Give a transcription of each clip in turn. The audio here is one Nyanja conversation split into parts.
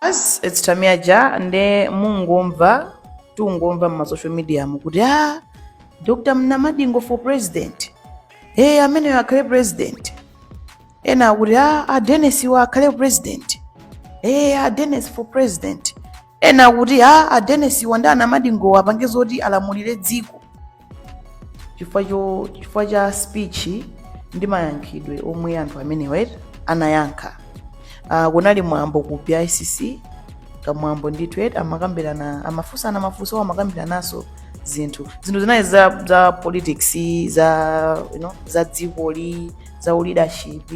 as it's Tamia Ja nde mungomva tungomva mma social media mu kuti ah Dr. Mnamadingo for president eh ameneyo akhale president ena akuti ah a Dennis wa akhale president eh a Dennis for president ena akuti ah a Dennis wa ndi anamadingo apange zoti alamulire dziko chifukwa cho chifukwa cha speech ndi mayankhidwe omwe anthu amenewa eti anayankha uh, kunali mwambo ku bicc kamwambo ndithu eti amakambirana amafunsana mafunso awo amakambirananso zinthu zinthu zinali za, za politics za you know, za dzikoli za uleadership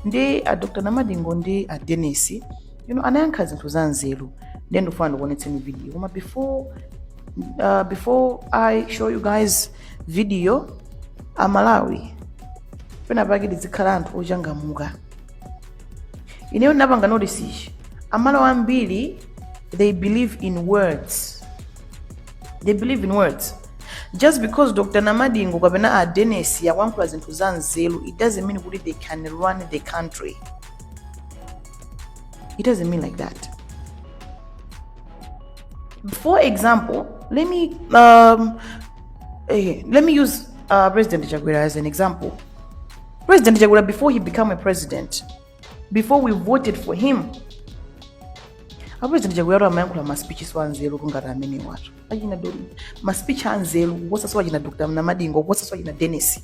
ndi a dr namadingo ndi a denis you know, anayankha zinthu za nzeru ndiye ndikufuna ndikuonetseni video koma before uh, before i show you guys video amalawi pena pake tizikhala anthu ochangamuka ineyo ndinapanga notice ichi amalawi ambiri they believe in words they believe in words just because dr namadingo kapena a denis akuyankhula zinthu za nzeru it doesn't mean kuti they can run the country it doesn't mean like that For example, let me um, eh, let me use uh, President Chakwera as an example. President Chakwera, before he became a president, before we voted for him, apresident chakwera amayankhula maspeech so anzeru kungoti amene watu achina maspeech anzeru kuposa so achina dr namadingo kuposa so achina dennis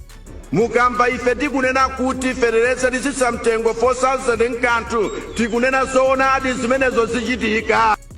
mukamba ife tikunena kuti fetereza titsitsa mtengo 4000 nkathu tikunena zoonadi zimenezo zichitika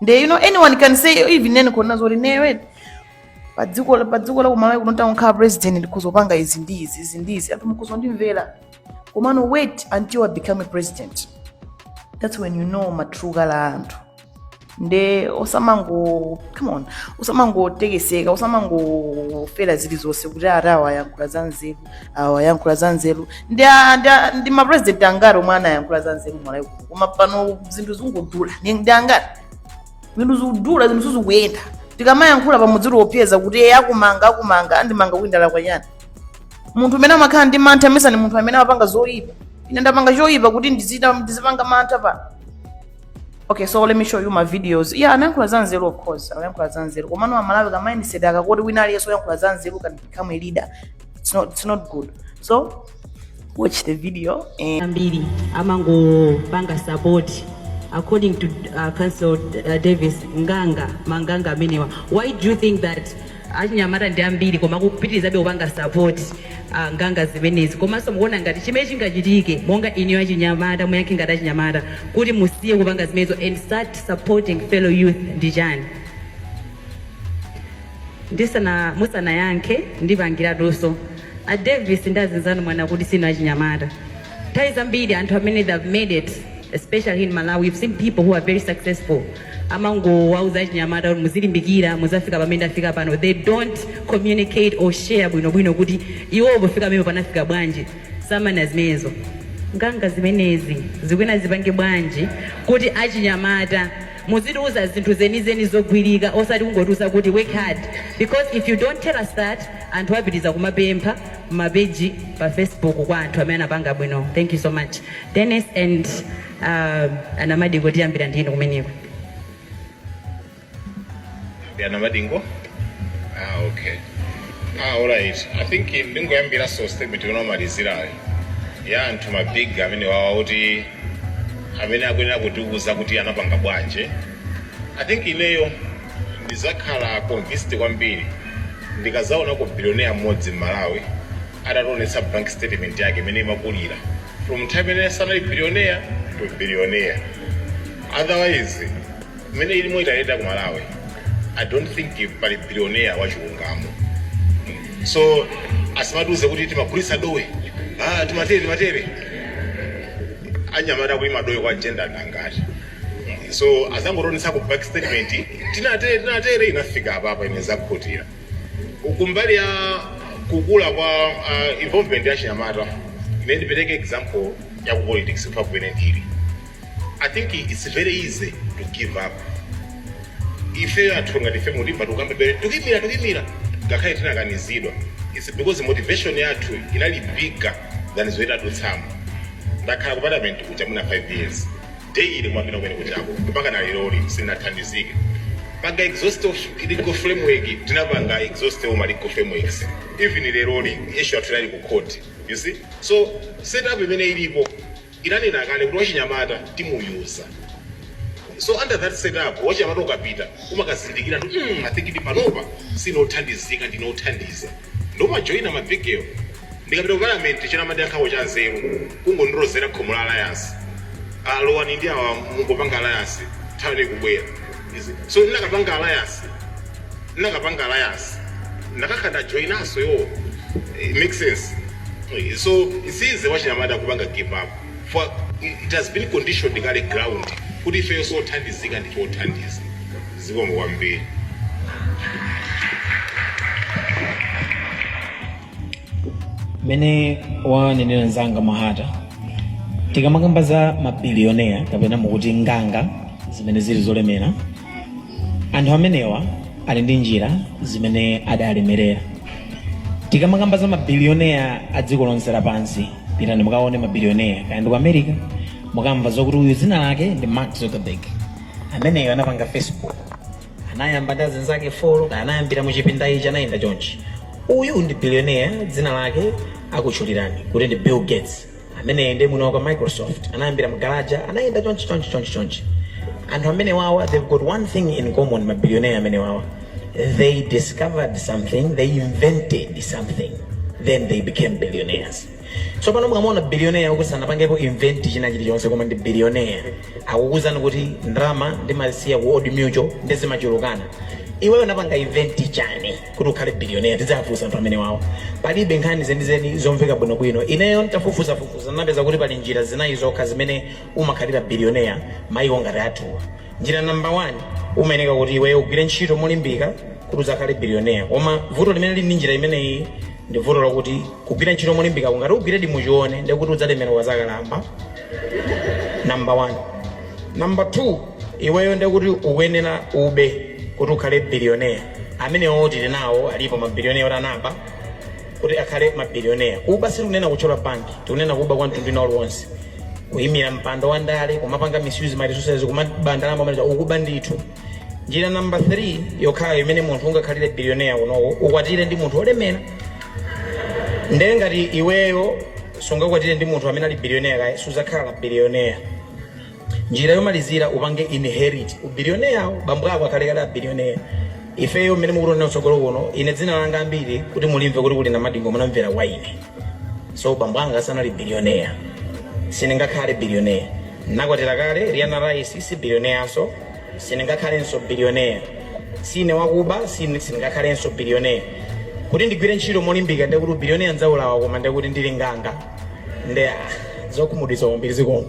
nde you know anyone can say even ineyo ndikhoza kunena zoti padziko la- padziko la kumalawi kuno ndtangokhala president ndikhoza kupanga izi ndi izi izi ndi izi anthu mukhoza ndimvera komano wait until i become a president that's when you know ma true color a anthu nde osamango come on osamangotekeseka osamangofera zili zonse kuti ati awa yankhula za nzeru awa yankhula za nzeru ndi a- ndi a- ndi mapresident angati omwe anayankhula za nzeru malawi kuno koma pano zinthu zikungodula Ni- ndi angati zinthu zikudula zinthu sizikuyenda tikamayankhula muzitiopseza kuti eye akumanga akumanga andimanga kuti ndalakwa chani munthu amene amakhala ndi mantha amesa ni munthu amene amapanga zoyipa ine ndapanga choyipa kuti ndizi- ndizipanga mantha pa okay so let me show you ma videos yeah anayankhula za nzeru of course anayankhula za nzeru komano amalawi ka mindset aka koti wina aliyense oyankhula za nzeru can become a leader it's not, it's not good so watch the video and ambiri amangopanga support according to uh, council uh, davis nganga manganga amenewa why do you think that Achinyamata ndi ambiri koma akupitilizabe kupanga support nganga zimenezi komaso mukuona ngati chimene chingachitike monga inuyo achinyamata muyankhe ngati achinyamata kuti musiye kupanga zimenezo and start supporting fellow youth ndi chani? musanayankhe ndipangiratuso a Davis ndi azinzanu mwanena kuti siinu achinyamata. Nthawi zambiri anthu amene they have made it especially here in Malawi we've seen people who are very successful amangowawuza achinyamata kuti muzilimbikira muzafika pamene ndafika pano they don't communicate or share bwinobwino kuti iwo pofika pamene panafika bwanji samanena zimenezo nganga zimenezi zikuyenera zipange bwanji kuti achinyamata Muzitiuza zinthu zenizeni zogwirika osati kungotiuza kuti work hard because if you don't tell us that anthu apitiliza kumapempha mma page pa facebook kwa anthu amene anapanga bwino thank you so much Dennis and um, a Namadingo tiyambira ndi inu kumeneko a Namadingo ah okay ah alright i think ndingoyambiraso statement yonomalizirayo ya anthu mabig amenewa awa kuti amene akuyenera kutiuza kuti anapanga bwanji i think ineyo ndizakhala convinced kwambiri ndikazaonako billionaire mmodzi m'malawi atationetsa bank statement yake imene imakulira from nthawi imene sanali billionaire to billionaire otherwise mmene ilimo itayenda ku malawi i don't think pali billionaire wachilungamo so asimatiuze kuti timagulitsa dowe ah, timatere timatere anyamata kulima dowe kwa jenda ndangati so azangotionetsako bank statement tinatere tinatere inafika apapa ine zakhutira kumbali ya kukula kwa uh, involvement ya achinyamata ine ndipereke example ya ku politics mpaka kumene ndili I think it's very easy to give up. Ife anthu ngati ife mulimba tukambe bere tukimira tukimira ngakhale tinakanizidwa. It's because motivation yathu inali bigger than zoita dutsamo. Ndakhala ku parliament kuja muna 5 years. Daily mwapita kumene kujako mpaka na leroli sinathandizike. Panga exhaust all legal framework tinapanga exhaust all legal frameworks. Even leroli issue yathu inali ku court. You see? So setup imene ilipo inanena kale kuti wachinyamata timuyuza so under that set up wachinyamata ukapita umakazindikira kuti mm i think kuti panopa sine othandizika ndine othandiza nde umajoina ma big wo. Ndikapita ku parliament china amandiyankhako chanzeru kungondilozera khomo la alliance ah lowani ndi awa mungopanga alliance nthawi yanu ikubwera. izi so ndakapanga alliance ndakapanga alliance ndakakhala ndajoinanso yo it makes sense Eh, so it's easy wachinyamata kupanga give up for it has been conditioned kale ground kuti ifeyo sothandizika ndife othandiza zikomo kwambiri mmene wanenera mzanga mahata tikamakamba za mabiliyoneya kapena mukuti nganga zimene zili zolemera anthu amenewa ali ndi njira zimene adalemerera tikamakamba za mabiliyoneya a dziko lonse lapansi pitani mukaone mabiliyoneya kaya ndi ku america mukamva zakuti uyu dzina lake ndi mark zuckerberg ameneyo anapanga facebook anayamba ndi azinzake folo anayambira muchipinda ichi anayenda chonchi uyu ndi billionaire dzina lake akutchulirani kuti ndi bill gates ameneyi ndi mwini wake wa microsoft anayambira mgaraja anayenda chonchi chonchi chonchi chonchi anthu amene wawa they've got one thing in common mabillionaire amene wawa they discovered something they invented something then they became billionaires tsopano mukamuona bilioneya woti sanapangepo invent china chilichonse koma ndi bilioneya akukuuzani kuti ndalama ndimasiya ku old mutual ndi zimachulukana iweyo unapanga invent chani kuti ukhale bilioneya tidzafunsa anthu amene wawo palibe nkhani zenizeni zomveka bwinobwino ineyo ntafufuzafufuza napeza kuti pali njira zinayi zokha zimene umakhalira bilioneya maiko ngati athuwa Njira number 1 umayeneka kuti iweyo ugwire ntchito molimbika kuti udzakhale billionaire koma vuto limene lili ndi njira imeneyi ndi vuto lakuti kugwira ntchito molimbikako ngati ugwiredi muchione ndekuti udzalemera ukazakalamba number 1 number 2 iweyo ndekuti ukuyenera ube kuti ukhale billionaire amenewo tilinawo alipo ma billionaire oti anaba kuti akhale ma billionaire. Kuba sitikunena kuthyola bank, tikunena kuba kwa mtundu wina uliwonse. Kuyimira mpando wa ndale, kumapanga misuse ma resources, kumaba ndalama omaliza, ukuba ndithu. Njira number 3 yokhayo imene munthu ungakhalire billionaire kunoko, ukwatire ndi munthu olemera. Nde ngati iweyo sungakwatire ndi munthu amene ali billionaire kale, sudzakhala billionaire. Njira yomalizira upange inherit u billionaire wo, bambo ako akhale kale a billionaire. Ifeyo mmene mukutionera kutsogolo kuno, ine dzina langa ambiri kuti mulimve kuti kuli Namadingo munamvera kwa ine. So bambo anga sanali billionaire, sindingakhale billionaire. Ndinakwatira kale, Riana Rice si billionairenso. Sindingakhalenso Billionaire. Siine wakuba, si, sindingakhalenso billionaire. Kuti ndigwire ntchito molimbika ndekuti u billionaire ndzaulawa koma ndekuti ndili nganga ndi zokhumudwitsa kwambiri zikomo.